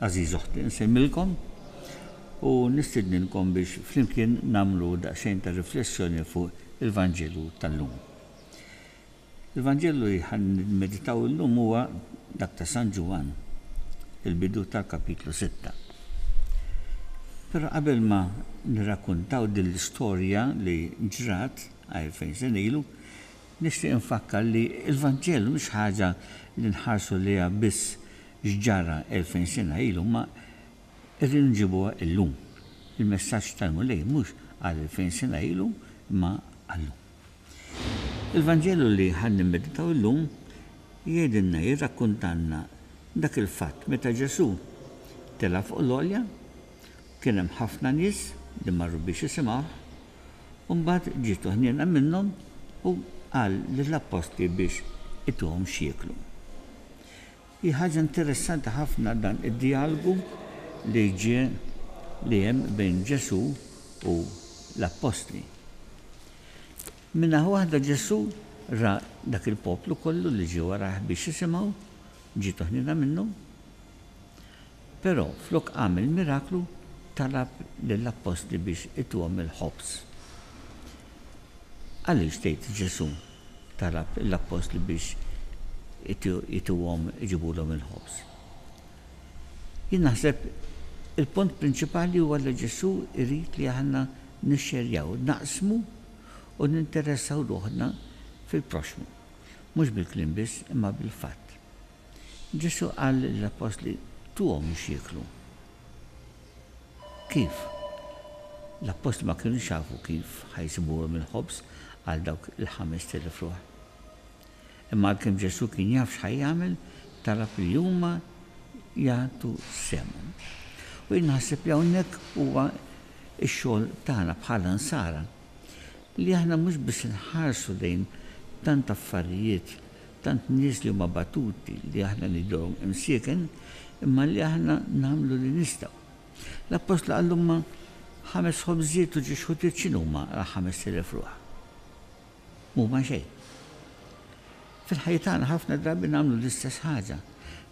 Għażiż oħti, insellmilkom u nistidninkom biex flimkien nagħmlu daqsxejn ta' riflessjoni fuq il-Vanġelu tal-lum. Il-Vanġelu li ħa nimmeditaw illum huwa dak ta' San Ġwann, il-bidu tal-kapitlu sitta. Però qabel ma nirrakkuntaw din l-istorja li ġrat għerfejn sena ilu, nixtieq infakkar li l-Vanġelu mhix ħaġa li nħarsu lejha biss x'ġara elfejn sena ilu imma rridu nġibuha illum. Il-messaġġ tal-Mulej mhux għal elfejn sena ilu imma għal-lum. Il-Vanġelu li ħa nimmeditaw illum jgħidilna, jirrakkuntalna dak il-fatt meta Ġesù tela' fuq l-għolja, kien hemm ħafna nies li marru biex jisimgħuh, u mbagħad ġietu ħniena minnhom u qal lill-appostli biex ituhom x'jieklu. Hi ħaġa interessanti ħafna dan id-djalgu li ġie li hemm bejn Ġesù u l-appostli. Minn naħa waħda Ġesù ra dak il-poplu kollu li ġie warajh biex jisimgħu, ġie toħniena minnu. Però flok qam il-miraklu, talab lill-appostli biex ituhom il-ħobż. Għaliex tgħid Ġesù talab lill-appostli biex ituhom iġibulhom il-ħobż? Jien naħseb il-punt prinċipali huwa li Ġesù jrid li aħna nixxerjaw, naqsmu u ninteressaw ruħna fil-proxxmu, mhux bil-kliem biss imma bil-fatt. Ġesù qal lill-appostli tuhom x'jieklu. Kif? L-appostli ma kinux jafu kif ħa jsibuhom il-ħobż għal dawk il-ħamest elef ruħ. Imma għalkemm Ġesù kien jaf x'ħa jagħmel, talab li huma jagħtu sehemhom. U jien nħasseb li hawnhekk huwa x-xogħol tagħna bħala Nsara, li aħna mhux biss inħarsu lejn tant affarijiet Tant nies li huma battuti li aħna nidhom imsieken imma li aħna nagħmlu li nistgħu. L-Appostlu qal huma ħames ħobżiet u ġiex ħutiet x'inhuma għal ħamest elef ruħ? M'huma xejn. Fil-ħajja tagħna ħafna drabi nagħmlu l-istess ħaġa.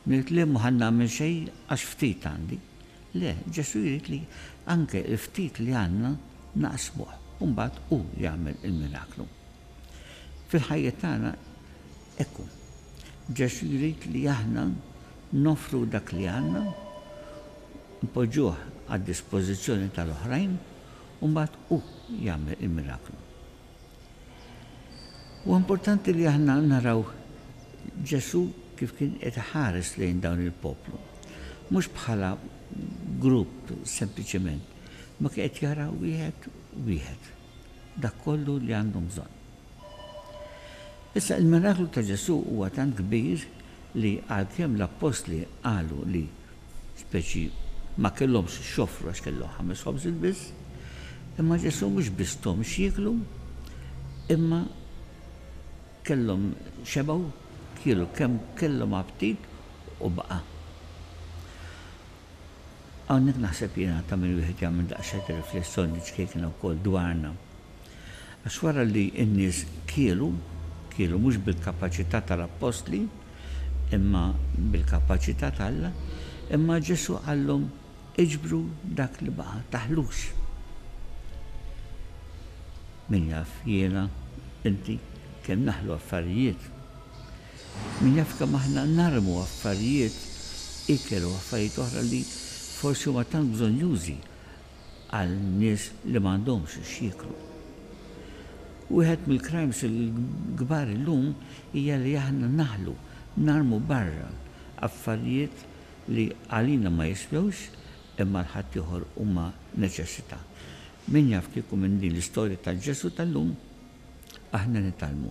Ngħid le m'ħa nagħmel xejn għax ftit għandi. Le, Ġesù jrid li anke l-ftit li għandna naqsmuh u mbagħad hu jagħmel il-miraklu. Fil-ħajjiet tagħna hekk hu. Ġesù jrid li aħna noffru dak li għandna, npoġġuh għad-dispożizzjoni tal-oħrajn u mbagħad hu jagħmel il-miraklu. Huwa importanti li aħna naraw Ġesù kif kien qed iħares lejn dawn il-poplu, mhux bħala grupp sempliċement, imma kien qed jara wieħed wieħed. dak kollu li għandhom bżonn. Issa, il-miraklu ta' Ġesù huwa tant kbir li għalkemm l-appostli qalu li, speċi, ma kellhomx x'joffru għax kellhom ħames ħobżiet biss, imma Ġesù mhux biss thom x'jieklu, imma kellhom xebgħu, kielu kemm kellhom aptit u baqa'. Hawnhekk naħseb jiena ta' min wieħed jagħmel daqsxejn ta' riflessjoni ċkejkna wkoll dwarna. Għax wara li n-nies kielu, kielu mhux bil-kapaċità tal-appostli, imma bil-kapaċità t'Alla, imma Ġesù qallhom, Iġbru dak li baqa', taħlux. Min jaf jiena, inti, kemm naħlu affarijiet. Min jaf kemm aħna narmu affarijiet, ikel u affarijiet oħra li forsi huma tant bżonnjużi għal nies li m'għandhomx x'jieklu. Wieħed mill-crimes il-kbar illum hija li aħna naħlu, narmu barra, affarijiet li għalina ma jiswewx imma għal ħaddieħor huma neċessità. Min jaf kieku minn din l-istorja tal-Ġesù tal-lum aħna nitgħallmu.